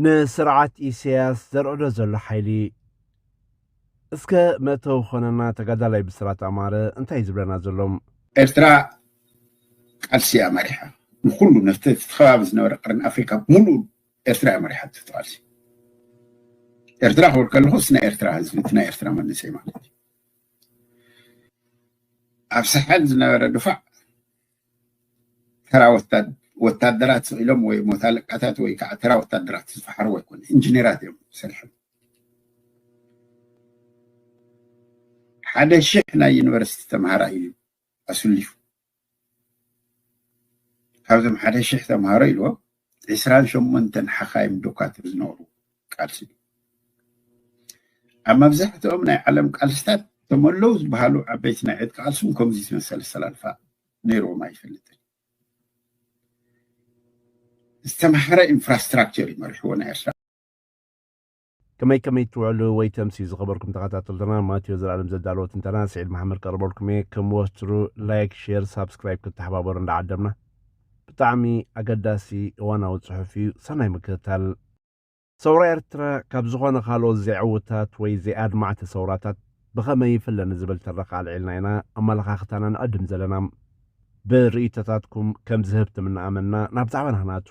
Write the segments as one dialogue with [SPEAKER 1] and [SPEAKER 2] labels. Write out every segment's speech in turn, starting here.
[SPEAKER 1] ንስርዓት ኢሰያስ ዘርዕዶ ዘሎ ሓይሊ። እስከ መእተዊ ክኾነና ተጋዳላይ ብስራት ኣማረ እንታይ እዩ ዝብለና ዘሎ? ኤርትራ
[SPEAKER 2] ቃልሲ እያ መሪሓ ንኩሉ ነቲ እቲ ከባቢ ዝነበረ ቀርኒ ኣፍሪቃ ብምሉኡ ኤርትራ እያ መሪሓቶ እቲ ቃልሲ ኤርትራ ክብል ከለኹስ ናይ ኤርትራ ህዝቢ እቲ ናይ ኤርትራ መንእሰይ ማለት እዩ ኣብ ሳሕል ዝነበረ ድፋዕ ተራ ወታደራት ስኢሎም ወይ ሞት ኣለቃታት ወይ ከዓ ተራ ወታደራት ዝፈሓርዎ ኣይኮነ ኢንጂነራት እዮም ሰሪሖም ሓደ ሽሕ ናይ ዩኒቨርሲቲ ተምሃራ እዩ ኣስሊፉ ካብዞም ሓደ ሽሕ ተምሃሮ ኢልዎ ዕስራን ሸሞንተን ሓኻይም ዶካትር ዝነበሩ ቃልሲ እዩ። ኣብ መብዛሕትኦም ናይ ዓለም ቃልስታት እቶም ኣለዉ ዝበሃሉ ዓበይቲ ናይ ዕጥቂ ቃልስን ከምዚ ዝመሰለ ኣሰላልፋ ነይርዎም ኣይፈልጥን። ዝተምሃረ ኢንፍራስትራክቸር እዩ መሪሕዎ ናይ ኤርትራ
[SPEAKER 1] ከመይ ከመይ ትውዕሉ ወይ ተምስዩ ዝኸበርኩም ተኸታተልትና ማቴዎ ዘልኣለም ዘዳለዎ ትንተና ስዒድ መሓመድ ቀርበልኩም እየ ከም ወትሩ ላይክ ሼር ሳብስክራይብ ክትተሓባበሩ እንዳዓደምና ብጣዕሚ ኣገዳሲ እዋናዊ ጽሑፍ እዩ ሰናይ ምክትታል ሰውራ ኤርትራ ካብ ዝኾነ ካልኦት ዘይዕውታት ወይ ዘይኣድማዕቲ ሰውራታት ብኸመይ ይፍለ ንዝብል ትረኻ ኣልዒልና ኢና ኣመለኻኽታና ንዕድም ዘለና ብርእይቶታትኩም ከም ዝህብትም እናኣመንና ናብ ዛዕባና ናቱ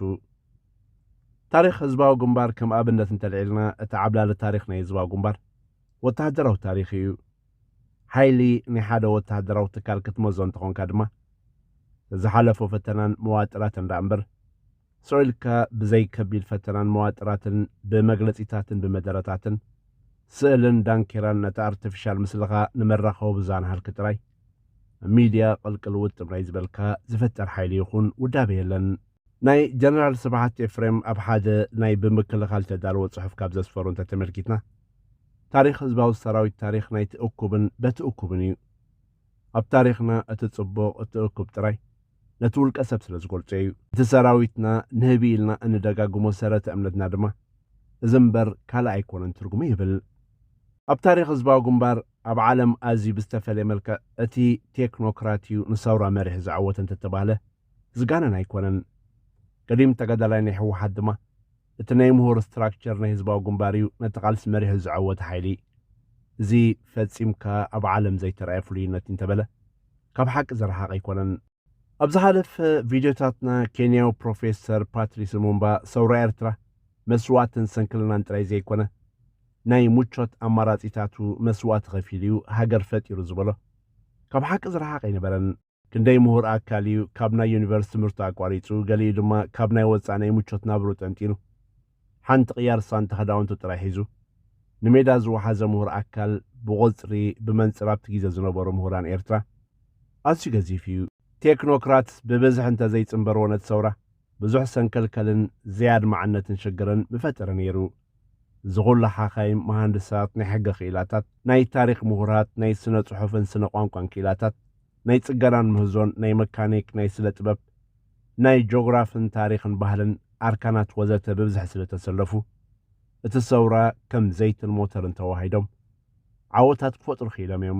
[SPEAKER 1] ታሪኽ ህዝባዊ ግንባር ከም ኣብነት እንተልዒልና እቲ ዓብላሊ ታሪኽ ናይ ህዝባዊ ግንባር ወተሃደራዊ ታሪኽ ኢዩ። ሓይሊ ናይ ሓደ ወተሃደራዊ ትካል ክትመዞ እንተኾንካ ድማ ብዝሓለፎ ፈተናን መዋጥራትን ደኣምበር ስቕ ኢልካ ብዘይ ከቢድ ፈተናን መዋጥራትን ብመግለጺታትን ብመደረታትን ስእልን ዳንኬራን ነቲ ኣርተፊሻል ምስልኻ ንመራኸቢ ብዙሃን ሃልኪ ጥራይ ሚድያ ቅልቅል ውጥም ናይ ዝበልካ ዝፍጠር ሓይሊ ይኹን ውዳበ የለን። ናይ ጀነራል ስብሓት ኤፍሬም ኣብ ሓደ ናይ ብምክልኻል እተዳለወ ጽሑፍ ካብ ዘስፈሮ እንተ ተመልኪትና፣ ታሪኽ ህዝባዊ ሰራዊት ታሪኽ ናይቲ እኩብን በቲ እኩብን ኢዩ። ኣብ ታሪኽና እቲ ጽቡቕ እቲ እኩብ ጥራይ ነቲ ውልቀ ሰብ ስለ ዝገልጾ ኢዩ። እቲ ሰራዊትና ንህቢ ኢልና እንደጋግሞ ሰረተ እምነትና ድማ እዚ እምበር ካልእ ኣይኮነን ትርጉሙ ይብል። ኣብ ታሪኽ ህዝባዊ ግንባር ኣብ ዓለም ኣዝዩ ብዝተፈልየ መልክዕ እቲ ቴክኖክራት ኢዩ ንሰውራ መሪሕ ዘዐወተ እንተ ተባህለ፣ ዝጋነን ኣይኮነን። ቀዲም ተጋዳላይ ናይ ህወሓት ድማ እቲ ናይ ምሁር ስትራክቸር ናይ ህዝባዊ ግንባር እዩ ነቲ ቃልሲ መሪሑ ዝዐወተ ሓይሊ። እዚ ፈፂምካ ኣብ ዓለም ዘይተርኣየ ፍሉይነት እዩ እንተበለ ካብ ሓቂ ዝረሓቐ ኣይኮነን። ኣብ ዝሓለፈ ቪድዮታትና ኬንያዊ ፕሮፌሰር ፓትሪስ ሉሙምባ ሰውራ ኤርትራ መስዋእትን ሰንክልናን ጥራይ ዘይኮነ ናይ ሙቾት ኣማራፂታቱ መስዋእቲ ከፊሉ እዩ ሃገር ፈጢሩ ዝበሎ ካብ ሓቂ ዝረሓቐ ኣይነበረን። ክንደይ ምሁር ኣካል እዩ ካብ ናይ ዩኒቨርስ ትምህርቱ ኣቋሪጹ ገሊኡ ድማ ካብ ናይ ወጻኢ ናይ ምቾት ናብርኡ ጠንጢኑ ሓንቲ ቅያር ሳንታ ክዳውንቱ ጥራይ ሒዙ ንሜዳ ዝወሓዘ ምሁር ኣካል ብቑጽሪ ብመንጽር ኣብቲ ግዜ ዝነበሩ ምሁራን ኤርትራ ኣዝዩ ገዚፍ እዩ። ቴክኖክራት ብብዝሒ እንተዘይጽምበርዎ ነቲ ሰውራ ብዙሕ ሰንከልከልን ዘይኣድማዕነትን ሽግርን ምፈጠረ ነይሩ። እዚ ኹሉ ሓካይም፣ መሃንድሳት፣ ናይ ሕገ ክኢላታት፣ ናይ ታሪኽ ምሁራት፣ ናይ ስነ ጽሑፍን ስነ ቋንቋን ክኢላታት፣ ናይ ጽገናን ምህዞን፣ ናይ መካኒክ፣ ናይ ስለ ጥበብ፣ ናይ ጆግራፍን ታሪኽን ባህልን ኣርካናት ወዘተ ብብዝሒ ስለ ተሰለፉ እቲ ሰውራ ከም ዘይትን ሞተርን ተዋሂዶም ዓወታት ክፈጥሩ ክኢሎም እዮም።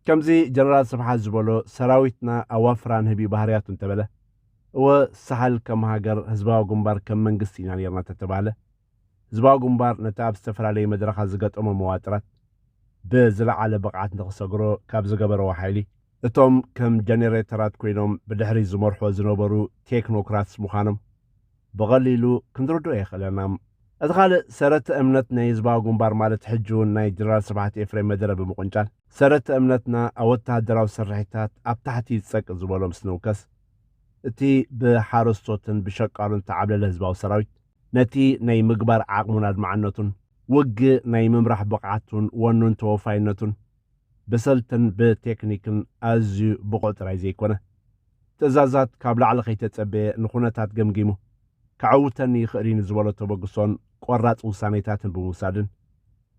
[SPEAKER 1] ከምዚ ጀነራል ስብሓት ዝበሎ ሰራዊትና ኣዋፍራን ህቢ ባህርያቱ እንተበለ እወ ሳሕል ከም ሃገር ህዝባዊ ግንባር ከም መንግስቲ ኢና ኔርና ተተባህለ ህዝባዊ ግንባር ነቲ ኣብ ዝተፈላለዩ መድረኻት ዝገጠሞ መዋጥራት ብዝለዓለ ብቕዓት ንኽሰግሮ ካብ ዝገበረዎ ሓይሊ እቶም ከም ጀኔሬተራት ኮይኖም ብድሕሪት ዝመርሑዎ ዝነበሩ ቴክኖክራትስ ምዃኖም ብቐሊሉ ክንርድኦ የኽእለና። እቲ ካልእ ሰረተ እምነት ናይ ህዝባዊ ግንባር ማለት ሕጂውን ናይ ጀነራል ስብሓት ኤፍሬም መደረ ብምቕንጫል ሰረተ እምነትና ኣብ ወተሃደራዊ ስርሒታት ኣብ ታሕቲ ጸቅ ዝበሎ ምስ ንውከስ እቲ ብሓረስቶትን ብሸቃሎን ዝተዓብለለ ህዝባዊ ሰራዊት፣ ነቲ ናይ ምግባር ዓቕሙን ኣድማዕነቱን፣ ውግእ ናይ ምምራሕ ብቕዓቱን ወኑን ተወፋይነቱን፣ ብሰልትን ብቴክኒክን ኣዝዩ ብቑዕ ጥራይ ዘይኮነ፣ ትእዛዛት ካብ ላዕሊ ከይተጸበየ ንኩነታት ገምጊሙ ከዐውተኒ ይኽእል'ዩ ንዝበሎ ተበግሶን ቆራጽ ውሳኔታትን ብምውሳድን፣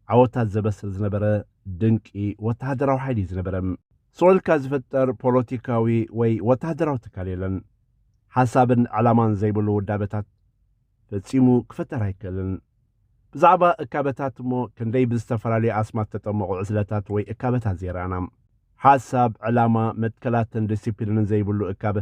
[SPEAKER 1] ዓወታት ዘበስር ዝነበረ ድንቂ ወተሃደራዊ ሓይሊ እዩ ዝነበረ። ስቕ ኢልካ ዝፍጠር ፖለቲካዊ ወይ ወተሃደራዊ ትካል የለን። ሓሳብን ዕላማን ዘይብሉ ውዳበታት ፈጺሙ ክፍጠር ኣይክእልን። ብዛዕባ እካበታት እሞ ክንደይ ብዝተፈላለዩ ኣስማት ተጠመቑ ዕስለታት ወይ እካበታት ዘይረኣና። ሓሳብ፣ ዕላማ፣ መትከላትን ዲሲፕሊንን ዘይብሉ እካበ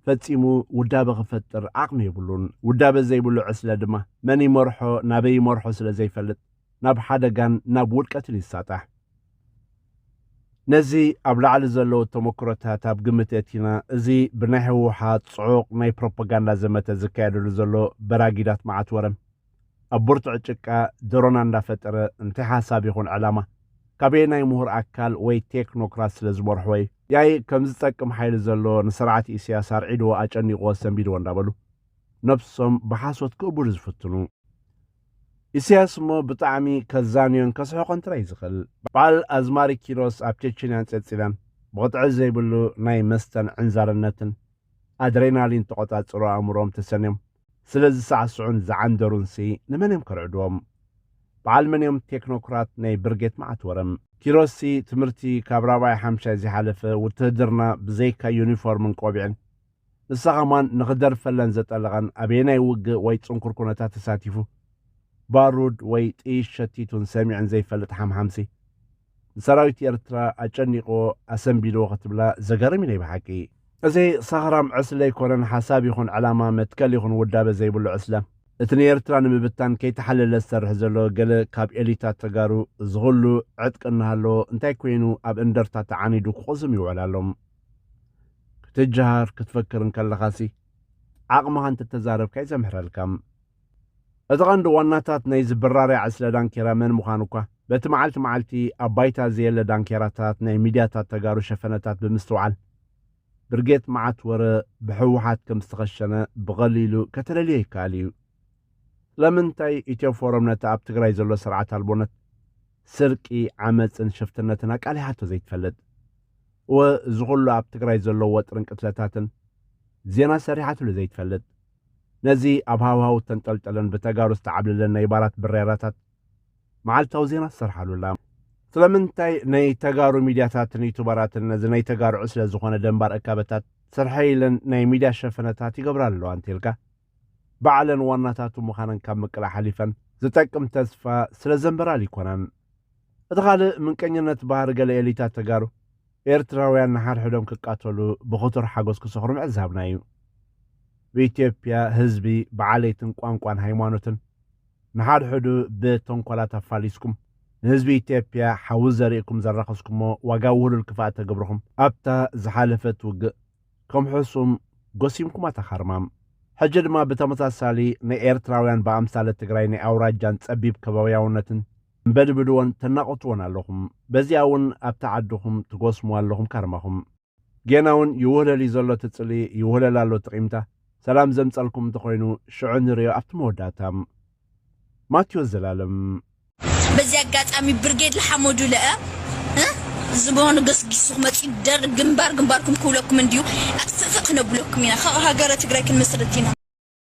[SPEAKER 1] ፈጺሙ ውዳበ ክፈጥር ዓቕሚ የብሉን። ውዳበ ዘይብሉ ዕስለ ድማ መን ይመርሖ ናበይ ይመርሖ ስለ ዘይፈልጥ ናብ ሓደጋን ናብ ውድቀትን ይሳጣሕ። ነዚ ኣብ ላዕሊ ዘለዉ ተመክሮታት ኣብ ግምት የእቲና እዚ ብናይ ህወሓት ጽዑቕ ናይ ፕሮፓጋንዳ ዘመተ ዝካየደሉ ዘሎ በራጊዳት መዓት ወረን ኣብ ብርቱዕ ጭቃ ደሮና እንዳፈጠረ እንታይ ሓሳብ ይኹን ዕላማ ካበየ ናይ ምሁር ኣካል ወይ ቴክኖክራት ስለ ዝመርሕዎ እዩ ያይ ከም ዝጠቅም ሓይሊ ዘሎ ንስርዓት ኢሳያስ ኣርዒድዎ ኣጨኒቕዎ ሰንቢድዎ እንዳበሉ ነብሶም ብሓሶት ክእቡዱ ዝፍትኑ ኢሳያስ እሞ ብጣዕሚ ከዛንዮን ከስሕቖን ጥራይ ዝኽእል በዓል ኣዝማሪ ኪሮስ ኣብ ቸችንያን ጸጽላን ብቕጥዒ ዘይብሉ ናይ መስተን ዕንዛርነትን ኣድሬናሊን ተቖጻጽሮ ኣእምሮኦም ተሰንዮም ስለ ዝሳዕስዑን ዝዓንደሩንሲ ንመን እዮም ከርዕድዎም? በዓል መን እዮም ቴክኖክራት ናይ ብርጌት መዓት ወረም። ኪሮስሲ ትምህርቲ ካብ ራብዓይ ሓምሻይ ዘይሓለፈ ውትህድርና ብዘይካ ዩኒፎርምን ቆቢዕን ንሳ ከማን ንኽደርፈለን ዘጠለቐን ኣበየናይ ውግእ ወይ ጽንኩር ኩነታት ተሳቲፉ ባሩድ ወይ ጥይት ሸቲቱን ሰሚዑን ዘይፈልጥ ሓምሓምሲ ንሰራዊት ኤርትራ ኣጨኒቕዎ ኣሰንቢድዎ ክትብላ ዘገርም እዩ ናይ ብሓቂ። እዚ ሰኽራም ዕስለ ኣይኮነን ሓሳብ ይኹን ዕላማ መትከል ይኹን ውዳበ ዘይብሉ ዕስለ እቲ ንኤርትራ ንምብታን ከይተሓለለ ዝሰርሕ ዘሎ ገለ ካብ ኤሊታት ተጋሩ እዚ ኹሉ ዕጥቂ እናሃለዎ እንታይ ኮይኑ ኣብ እንደርታ ተዓኒዱ ክቑዝም ይውዕል ኣሎ ክትጀሃር ክትፈክር እንከለኻሲ ዓቕምኻ እንተተዛረብካ እዩ ዘምሕረልካ። እቲ ቀንዲ ዋናታት ናይዚ ብራርያ ዕስለ ዳንኬራ መን ምዃኑ እኳ በቲ መዓልቲ መዓልቲ ኣብ ባይታ ዘየለ ዳንኬራታት ናይ ሚድያታት ተጋሩ ሸፈነታት ብምስትውዓል ብርጌት መዓት ወረ ብሕወሓት ከም ዝተኸሸነ ብቐሊሉ ከተለልዮ ይከኣል እዩ። ስለምንታይ ኢትዮ ፎረም ነቲ ኣብ ትግራይ ዘሎ ስርዓት ኣልቦነት፣ ስርቂ፣ ዓመጽን ሽፍትነትን ኣቃሊሓቶ ዘይትፈልጥ? እወ እዚ ኩሉ ኣብ ትግራይ ዘሎ ወጥርን ቅትለታትን ዜና ሰሪሓትሉ ዘይትፈልጥ? ነዚ ኣብ ሃዋህው እተንጠልጠለን ብተጋሩ ዝተዓብለለን ናይ ባራት ብሬራታት መዓልታዊ ዜና ትሰርሓሉ ኣላ። ስለምንታይ ናይ ተጋሩ ሚድያታትን ዩቱበራትን ነዚ ናይ ተጋሩ ዕስለ ዝኾነ ደንባር እካበታት ስርሐይ ኢለን ናይ ሚድያ ሸፈነታት ይገብራ ኣለዋ እንተኢልካ ባዕለን ዋናታቱ ምኻነን ካብ ምቅላዕ ሓሊፈን ዝጠቅም ተስፋ ስለዘንበራል ኣይኮናን። እቲ ካልእ ምንቀኝነት ባህሪ ገለ ኤሊታት ተጋሩ ኤርትራውያን ንሓድሕዶም ክቃተሉ ብኽቱር ሓጎስ ክሰኽሩ ምዕዛብና ኢዩ። ብኢትዮጵያ ህዝቢ ብዓሌትን ቋንቋን ሃይማኖትን ንሓድሕዱ ብተንኮላት ኣፋሊስኩም ንህዝቢ ኢትዮጵያ ሓዊ ዘሪእኩም ዘራኸስኩሞ ዋጋ ውህሉል ክፋእ ተግብርኹም ኣብታ ዝሓለፈት ውግእ ከም ሕሱም ጎሲምኩማ ተኻርማም ሕጂ ድማ ብተመሳሳሊ ንኤርትራውያን ብኣምሳለ ትግራይ ናይ ኣውራጃን ጸቢብ ከባብያውነትን በድብድዎን ተናቁትዎን ኣለኹም በዚኣ ውን ኣብታ ዓድኹም ትጎስምዋ ኣለኹም ካርማኹም ጌና ውን ይውህለል ዩ ዘሎ እቲ ጽልኢ ይውህለል ኣሎ እቲ ቂምታ ሰላም ዘምጸልኩም እንተኾይኑ ሽዑ ንርእዮ ኣብቲ መወዳእታ ማትዮስ ዘላለም። በዚ
[SPEAKER 3] ኣጋጣሚ ብርጌድ ልሓመዱ ለእ እ ዝገኑ ገስጊሱ ክመጽዩ ደርግ ግንባር ግንባርኩም ክብለኩም እንድዩ ኣትፍእፍእ ክነብለኩም ኢና ካብኡ ሃገረ ትግራይ ክንምስርት ኢና።